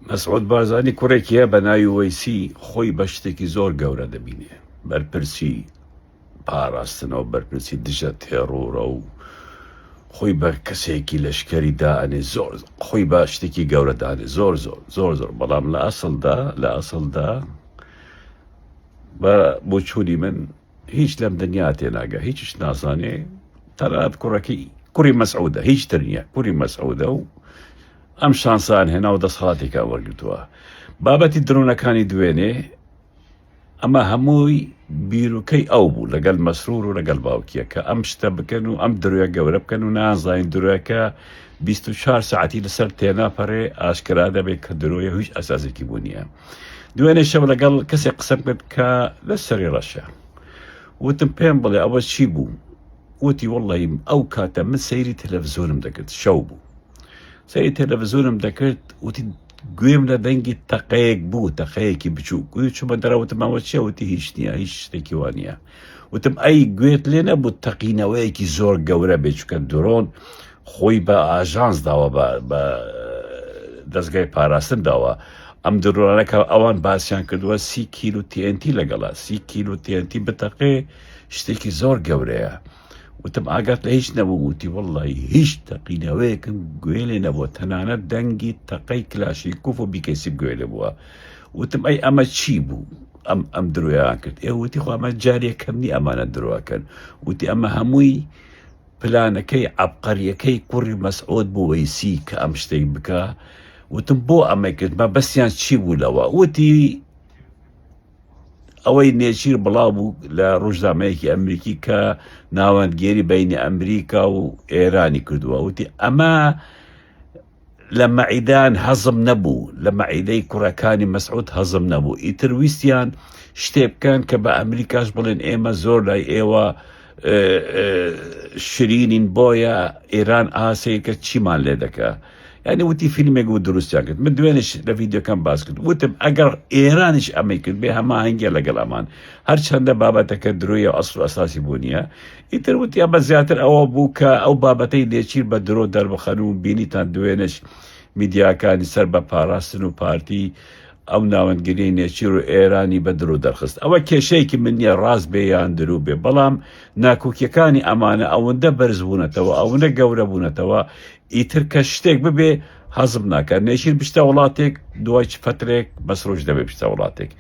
مەسعود بارزانی کوڕێکی هەیە بە ناوی وەیسی خۆی بە شتێکی زۆر گەورە دەبینێ بەرپرسی پاراستنەوە بەرپرسی دژە تێڕوڕە و خۆی بە کەسێکی لەشکری دائەنێ زۆر خۆی بە شتێکی گەورە دانێ زۆر زۆر زۆر زۆر بەڵام لە ئەسڵدا لە ئەسڵدا بە بۆچووری من هیچ لەم دنیا تێناگە هیچیش نازانێ تەنانەت کوڕەکەی کوڕی مەسعودە هیچ تر نییە کوری مەسعودە و ئەم شانسان هێنا و دەسەڵاتێکا وەرگتووە بابەتی درۆنەکانی دوێنێ ئەمە هەمووی بیرروکەی ئەو بوو لەگەل مەسرور و لەگەل باوکیە کە ئەم شتە بکەن و ئەم درۆە گەورە بکەن و نازانین درۆەکە 24 ساعتی لەسەر تێناپەرێ ئاشکرا دەبێت کە درۆیە هیچ ئەسازێکی بوو نیە دوێنێ شەو لەگەڵ کەسێک قسەم کرد کە لە سەری ڕەشە وتم پێم بڵێ ئەوە چی بوو وتی وڵیم ئەو کاتە من سەیری تەلەڤزیۆنم دەکرد شەو بوو سەیری تەلەڤزیۆنم دەکرد وتی گوێم لە دەنگی تەقەیەک بوو تەقەیەکی بچوو گوێ چمە دەراوتمەوە چێوتی هیچ نییە هیچ شتێکی وانە وتم ئەی گوێت لێ نەبوو تەقینەوەیەکی زۆر گەورە بێچکە درۆن خۆی بە ئاژانس داوە بە دەستگای پاراستن داوە ئەم درۆنەکە ئەوان باسییان کردووە سی کیل و TNT لەگەڵە سی کیل و TNT بتەقێ شتێکی زۆر گەورەیە وتم ئاگات لە هیچ نەبوو وتی وڵی هیچ تەقینەوەیەکم گوێ لێ نەبووە تەنانە دەنگی تەقەی کلاشی کوف و بیکەسی گوێ لێ بووە وتم ئەی ئەمە چی بوو ئەم ئەم درۆیان کرد ئێ وتی خۆمە جارێکەم نی ئەمانە درۆکەن وتی ئەمە هەمووی پلانەکەی عەبقەریەکەی کوڕی مەسعود بو وەیسی کە ئەم شتەی بکا وتم بۆ ئەمەی کرد مەبەستیان چی بوو لەوە وتی ئەوەی نێچیر بڵاو بوو لە ڕژدامەیەکی ئەمریکی کە ناوەندگێری بینی ئەمریکا و ئێرانی کردووە وتی ئەمە لە مەعیدان هەزم نەبوو لە مەعیدەی کوڕەکانی مەسعود هەزم نەبوو ئیتر ویستیان شتێ بکەن کە بە ئەمریکاش بڵێن ئێمە زۆر لای ئێوە شرینین بۆیە ئێران ئاسەیەکە چیمان لێ دەکە ینی وتی فیلمێک و دروستیان کرد من دوێنش لە ڤیددیوکەم باس کرد وتم ئەگەر ئێرانش ئەمەی کرد بێ هەماهنگگە لەگەڵ ئەمان هەرچەندە بابەتەکە درۆیە ئەسڵ ئەساسی بوو نیە ئیتر وتیان بە زیاتر ئەوە بوو کە ئەو بابەتەی نێچیر بە درۆ دەربخەن و بینیتان دوێنێش میدیاکانی سەر بە پاراستن و پارتی ئەو ناوەندگریەی نێچیر و ئێرانی بە درۆ دەرخست ئەوە کێشەیەکی من نیە ڕاست بێ یان درو بێ بەڵام ناکۆکیەکانی ئەمانە ئەوەندە بەرز بوونەتەوە ئەوەندە گەورە بوونەتەوە ئیتر کە شتێک ببێ حەزم ناکە نێشیر بشتە وڵاتێک دوای چ فترێک بەسرۆژ دەبێ بشتە وڵاتێک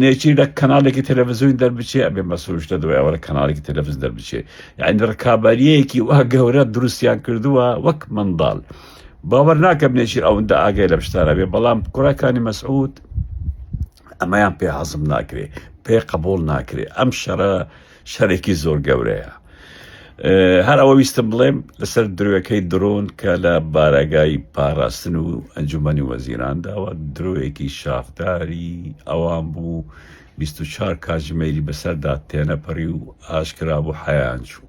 نێچی لە کەناڵێکی تەلەڤزیۆنی دەربچێ ئەبێ مەسروش لە دوای ئەوە لە کەناڵێکی تەلەڤز دەربچێ یعنی ڕکابەریەکی وا گەورە دروستیان کردووە وەک منداڵ باوەڕ ناکەم نێچیر ئەوەندە ئاگای لە شتانە بێ بەڵام کوڕەکانی مەسعود ئەمەیان پێ حەزم ناکرێ پێ قبول ناکرێ ئەم شەڕە شەرێکی زۆر گەورەیە هەر ئەوە ویستم بڵێم لەسەر درۆەکەی درۆن کە لە بارەگای پاراستن و ئەنجومی وەزیران داوە درۆیەکی شافداری ئەوان بوو 24 کاژمێری بەسەردا تێنەپەڕی و ئاشکرا بۆ حیان چوو